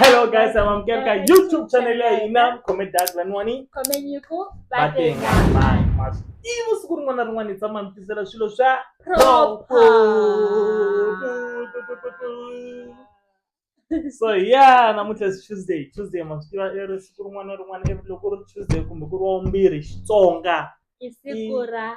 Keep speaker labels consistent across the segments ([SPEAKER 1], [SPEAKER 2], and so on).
[SPEAKER 1] Hello guys, I'm Amkerka YouTube channel ya ina comment dark la nwani. Comment yuko
[SPEAKER 2] batenga.
[SPEAKER 1] Ivo siku rin'wana rin'wana hi tshama mi tisela swilo swa proper. So yeah, namuntlha is Tuesday. Tuesday ma swi tiva i ri siku rin'wana rin'wana loko ri Tuesday kumbe ku ri wa vumbirhi Xitsonga. I siku
[SPEAKER 2] ra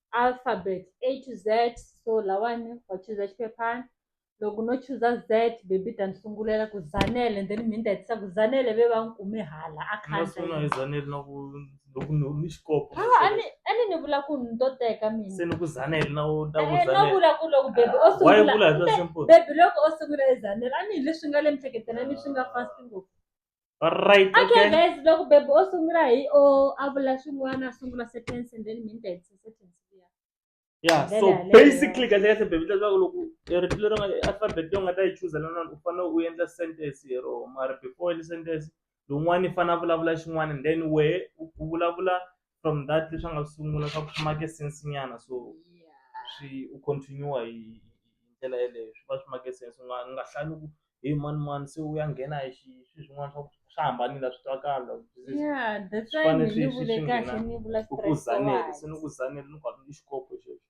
[SPEAKER 2] alphabet A to Z so lawani wa chuza xiphephana loko no chuza Z baby yi ta ni sungulela ku Zanele and then mehe ni ta hetisa ku Zanele ve va n'wi kume hala a khandla hi Zanele
[SPEAKER 1] na ku loko ni ni xikopo ha a ni a ni ni vula
[SPEAKER 2] ku ni to teka mina se ni ku Zanele na
[SPEAKER 1] u ta ku Zanele no vula ku loko
[SPEAKER 2] baby
[SPEAKER 1] o
[SPEAKER 2] sungula why vula hi swa simple baby
[SPEAKER 1] loko o sungula hi
[SPEAKER 2] Zanele a ni hi leswi nga le mihleketelweni swi nga fast ngopfu. Alright, okay.
[SPEAKER 1] Okay, guys,
[SPEAKER 2] loko baby
[SPEAKER 1] o
[SPEAKER 2] sungula hi o a vula swin'wana a sungula sentence and then mina ni ta hetisa sentence liya. Yeah, Ndlela so
[SPEAKER 1] yaleyo. basically kahle
[SPEAKER 2] kahle baby
[SPEAKER 1] leswaku loko eh, rito leri nga alphabet leyi u nga ta yi chuza na nona u fanele u endla sentence hi rona mara before u endla sentence lowun'wana i fanele a vulavula xin'wana and then wehe u u vulavula from that leswi a nga swi sungula swa ku swi make sense nyana so swi u continue hi hi ndlela yeleyo swi va swi make sense u nga u nga hlaya ni ku he mani mani se u ya nghena hi xi swi swin'wana swa ku swa hambanile a swi twakali like this is- ya that's
[SPEAKER 2] swi why fanele ni swi- ni swi- vule swi kahle nghena
[SPEAKER 1] ni
[SPEAKER 2] vula
[SPEAKER 1] ku
[SPEAKER 2] ku straight
[SPEAKER 1] zanele
[SPEAKER 2] se
[SPEAKER 1] ni forward. ku zanele ni
[SPEAKER 2] ku hambi
[SPEAKER 1] i xikopo xexo.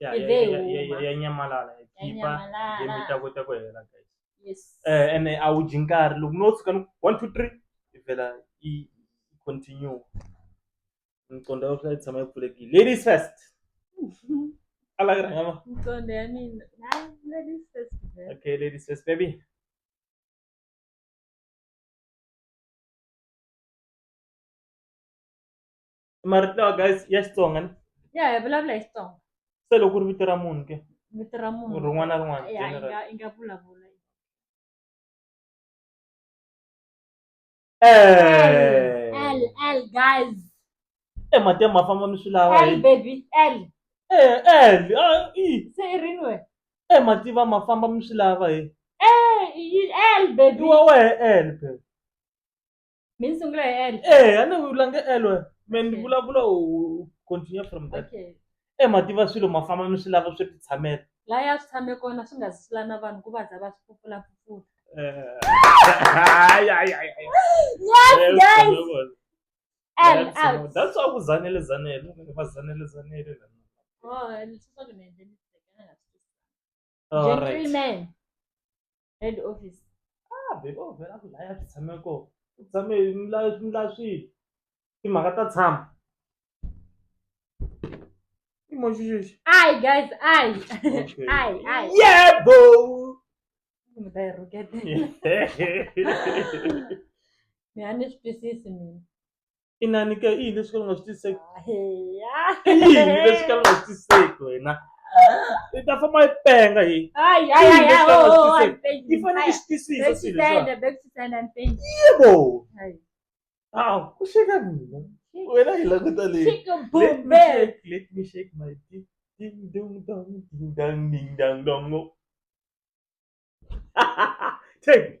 [SPEAKER 2] ya Yi ya
[SPEAKER 1] ve ya- ya- huma. ya
[SPEAKER 2] nyamalala Ya khipa
[SPEAKER 1] nyamalala. game yi ta
[SPEAKER 2] kota ku hela
[SPEAKER 1] guys yes eh ene
[SPEAKER 2] a wu dyi
[SPEAKER 1] nkarhi loko no tshuka ni ku one two three yi vhela yi yi continue miqondo ya vona yi tshama yi pfulekile ladies first a la yi rhanga ma mqondo ya mina
[SPEAKER 2] hayi ladies first girl. okay ladies first
[SPEAKER 1] baby marito lawa guys ya xitsonga ni ya hi vulavula hi
[SPEAKER 2] xitsonga se loko ku ri vito
[SPEAKER 1] ra munhu ke vito ra munhu rin'wana
[SPEAKER 2] na rin'wana
[SPEAKER 1] ya
[SPEAKER 2] i general. nga i nga vulavula Eh. L L guys Eh, mati
[SPEAKER 1] ya ma famba mi swi lava L hi baby L
[SPEAKER 2] Eh, eh,
[SPEAKER 1] ah, i. se i rini we
[SPEAKER 2] Eh, mati va ma
[SPEAKER 1] famba mi swi lava hi Eh, i-
[SPEAKER 2] L baby wa wehe elpe mi ni sungula hi l Eh, a ni vulange
[SPEAKER 1] elwe me ni Okay. vulavula u u continue from that okay e mativa
[SPEAKER 2] swilo
[SPEAKER 1] ma famba mi swi lava swi titshamela laha ya swi tshame
[SPEAKER 2] kona swi nga zisula na vanhu ku va za va swi pfupfulapfupfula yes guys that's why ku zanele
[SPEAKER 1] zanele va zanele zanele Oh, and it's not gonna
[SPEAKER 2] end anything. All
[SPEAKER 1] right. gentleman
[SPEAKER 2] head office Ah, babe, oh,
[SPEAKER 1] vela ku laya swi tshame kona. U tshame hi mila swi mila swilo. Timhaka ta tshama. I moxi xexi. ai guys ai Okay.
[SPEAKER 2] ai
[SPEAKER 1] ai Yebo! mi ta
[SPEAKER 2] yi rhuketela mi a ni swi twisisi mina inani ke
[SPEAKER 1] i yini leswi kala u nga swi twisiseki
[SPEAKER 2] i yini leswi kala
[SPEAKER 1] u nga swi twisiseki wena i ta famba i penga hi i
[SPEAKER 2] fanele
[SPEAKER 1] i swi twisisa
[SPEAKER 2] swilo
[SPEAKER 1] yebo
[SPEAKER 2] hawu u
[SPEAKER 1] xeka mina wena hi languta leyi
[SPEAKER 2] let me shake my
[SPEAKER 1] dick ding dong dong ding dong ding dong dong take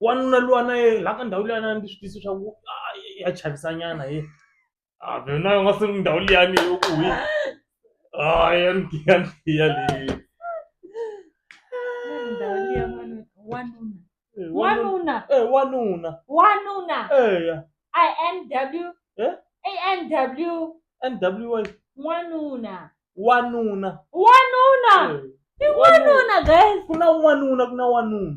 [SPEAKER 1] wanuna luwa na ye la ka ndhawu liya na ni swi tisi swa ku ah, ya chavisanyana ye a vena u nga se ndhawu liyani u ku hi a ya ni tiya ni tiya leyi ndhawu liya
[SPEAKER 2] wanuna
[SPEAKER 1] wanuna Eh, wanuna
[SPEAKER 2] eh, wanuna
[SPEAKER 1] wanuna
[SPEAKER 2] eya i n w Eh? a n w n w a wanuna wanuna wanuna Eh, i wanuna guys ku na wanuna ku na
[SPEAKER 1] wanuna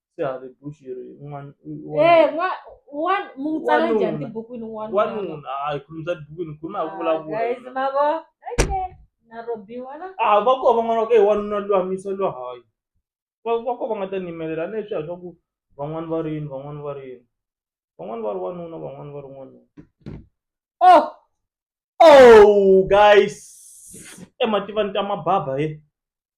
[SPEAKER 1] Sihari Bushiri i n'wana- i Eh, wanuna. n'wa- wa-
[SPEAKER 2] mu n'wi tsala njhani Wanuna. tibukwini n'wanuna? wanuna a hi
[SPEAKER 1] khulumi swa tibukwini khulumi ha Ah, guys, vulavula ma vo
[SPEAKER 2] okay na robiwa na a va ko van'wana va ku e
[SPEAKER 1] wanuna luwa misa luwa hayi va va ko va nga ta nimelela ni leswiya swa ku van'wani va rini van'wani va rini van'wani va ri wanuna van'wani va ri n'wanuna oh oh guys emativani ta mababa he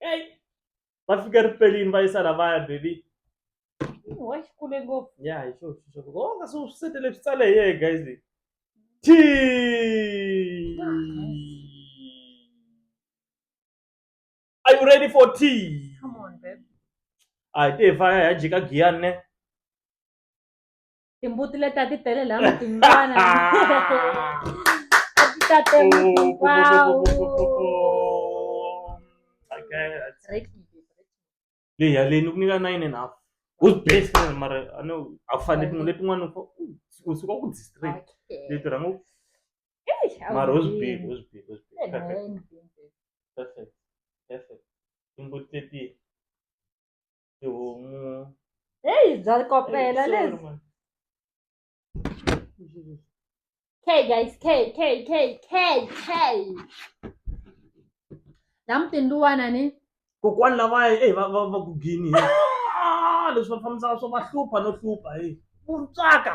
[SPEAKER 1] eyi va fike ripelini va yisa lavaya baby wa
[SPEAKER 2] xikule ngopfu ya hi xo xo xo
[SPEAKER 1] o nga swi swi setele swi tsale hi yeye guys leyi ti are you ready for tea come
[SPEAKER 2] on babe a hi te hi
[SPEAKER 1] faya hi ya jika giyani ne
[SPEAKER 2] timbuti leti a ti tele laha mutini vana a ti ta temutikwawu leyi yaleyi ni
[SPEAKER 1] ku nyika nine and half who's best man mara a ni a ku fanele tin'we letin'wana u u suka ku district leti rhanga u
[SPEAKER 2] mara who's big
[SPEAKER 1] who's big
[SPEAKER 2] who's big
[SPEAKER 1] perfect perfect perfect timbuti leti tihomu heyi bya
[SPEAKER 2] kopela Sorry, lebyi man. k guys k k k k k la mutindiwana ni kokwani lavaya
[SPEAKER 1] eyi va va va ku gini he Ah, leswi va fambisaka swo va hlupha no hlupha he vuntswaka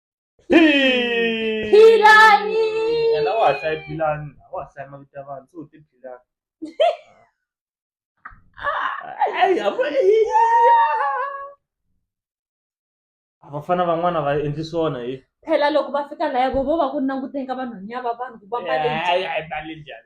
[SPEAKER 2] Philani. And I was
[SPEAKER 1] like, Philani. I was like, my Tavan, so the Philani. Hey, I'm vafana van'wana va endli swona hi phela loko va
[SPEAKER 2] fika laya vo vo va ku languteni ka vanhwanya va vanhu ku va mbale
[SPEAKER 1] njhani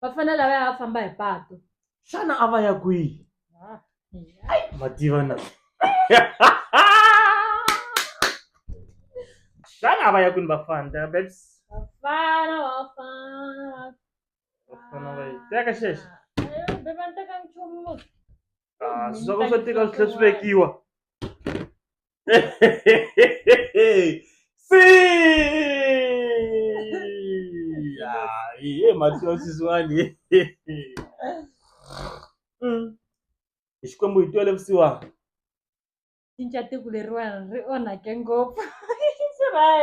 [SPEAKER 2] va fanele lava ya famba hi patu xana a va
[SPEAKER 1] ya kwihi ma tiva na xana a va ya kwini vafana teka babes vafana vafana vafana va yi teka xexo beba ni
[SPEAKER 2] teka nchumu Ah, swi swa
[SPEAKER 1] ku swo tika swi tlhe swi vekiwa Sim! Aí, Matheus Suzuani. Xikwembu hi twele vusiwana.
[SPEAKER 2] cinca tiko leriwani ri onhake ngopfu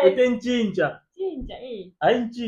[SPEAKER 2] u
[SPEAKER 1] te ncinca cinca e
[SPEAKER 2] hayi nci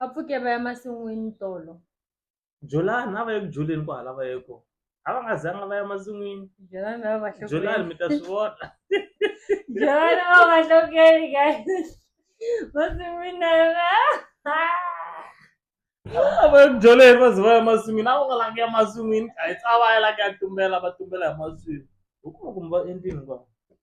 [SPEAKER 2] va pfuke va ya masin'wini tolo jolani
[SPEAKER 1] a va ye ku joleni ku hala va ye kona a va nga zanga va ya masin'wini jolani va va
[SPEAKER 2] jolani mi ta swi
[SPEAKER 1] vona jolani
[SPEAKER 2] va va hlokeli guys masin'wini na
[SPEAKER 1] yona vabyoleni va ze va ya masin'wini a va nga langi ya masin'wini a hi tsa va ya la ku ya tumbela va tumbela hi masin'wini hi kuma kumbe va endlini va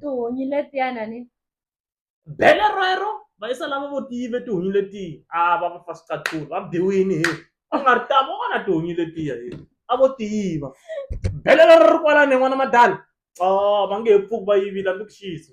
[SPEAKER 2] tihunyi letiyana ni
[SPEAKER 1] bele rero va yisa lava vo tive tihunyi letiya a va va fa swicathulu va biwini hi a nga ri tama vona tihunyi letiya hi a vo tiva bele rero ri kwalani n'wana madala o va nge he pfuki va yivile a ndzi ku xiyisi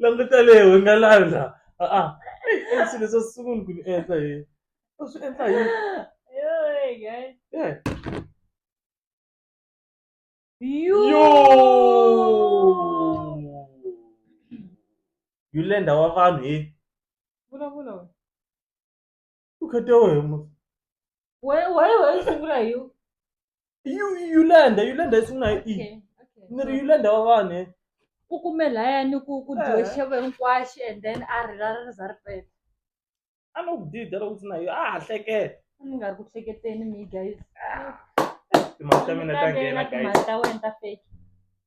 [SPEAKER 1] languta leyi hi nga landa a-a i swilo swo sungula ku ni endla hi u swi endla
[SPEAKER 2] hi Yeah.
[SPEAKER 1] yulenda wa vanhu hi vulavula u khete wehe mos Why,
[SPEAKER 2] why, why you sungula hi u? you you lenda
[SPEAKER 1] you lenda isungula hi i Okay, okay. ni ri you lenda wa vanhu eh. Ku kume laya
[SPEAKER 2] ni ku ku dyiwe Eh. xevo hinkwaxi and then a ri ra ri za ri peta. a no
[SPEAKER 1] ku dida loko swi na yo a ha hleketa A ni nga ri ku
[SPEAKER 2] hleketeni mi guys.
[SPEAKER 1] timali ta mina ta nghena guys Timali ta wena ta fake.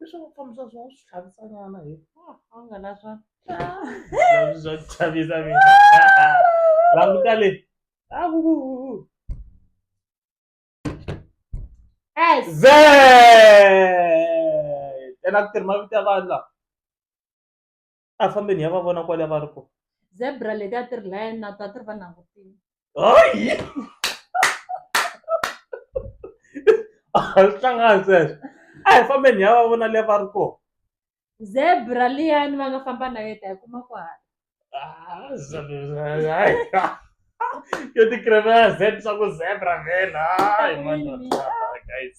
[SPEAKER 2] leswaku ku
[SPEAKER 1] fambisa swa swi tlhavisa nyana hi a nga na swa swa ku chavisa mina languta le ze ena ku tirhi mavito ya vanhu lawa a fambeni ya va vona kwale va ri ko zebra leti a
[SPEAKER 2] ti ri laya na to a ti ri va langutini hayi
[SPEAKER 1] a swi hlangani sweswo a hi fambeni ya va vona le va ri ko zebra
[SPEAKER 2] liyani va nga famba na yeta hi kuma ku hala Ah, zebra, hayi.
[SPEAKER 1] yo ti kremela zeb swa ku zebra vhela hayi mani guys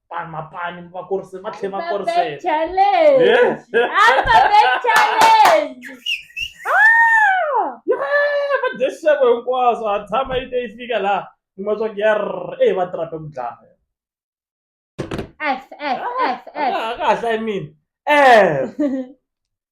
[SPEAKER 1] pani mapani va kurise va tlhe va kurise vadexevo hinkwaswo ha tshama yi te yi fika laha kuma swa ku yar e va trape ku dlaya kahle i mean eh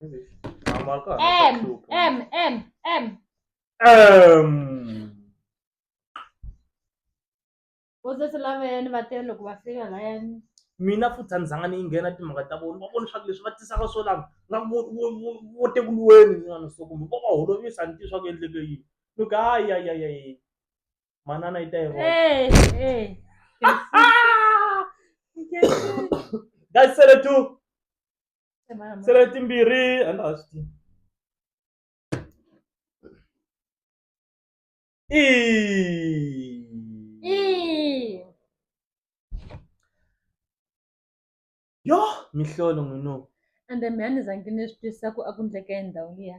[SPEAKER 2] Am arcat. M, M, M, M. Um. Wo se se lava yani va tele loko va fika la yani. mina futhi a ni
[SPEAKER 1] zanga ni nghena timhaka ta vona va vona leswaku leswi va tisaka swo lava nga vo tekuluweni n'wana so kumbe va va holovisa ni tiva swa ku endleke yini ni ku hayi hayi hayi hayi manana yi ta yi vona guys sele two se letimbirhi a ndza ha swi tivi Ii. yo mihlolo n'wino ende mi a ni
[SPEAKER 2] zangi ni swi twisisa ku a ku ndleka endhawu liya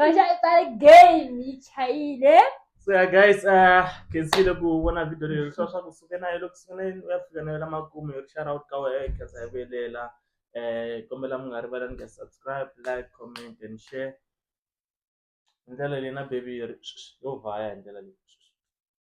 [SPEAKER 2] Raja i tsale game yi chayile so yeah guys
[SPEAKER 1] uh can see loko u vona video leyi leswa swa ku suke nayo loko sunguleni u ya fika na yona makumu hi share out ka wena hi khetsa hi velela eh kombela mi nga rivalani ka subscribe like comment and share hi ndlela leyi na baby yi ri yo vhaya hi ndlela leyi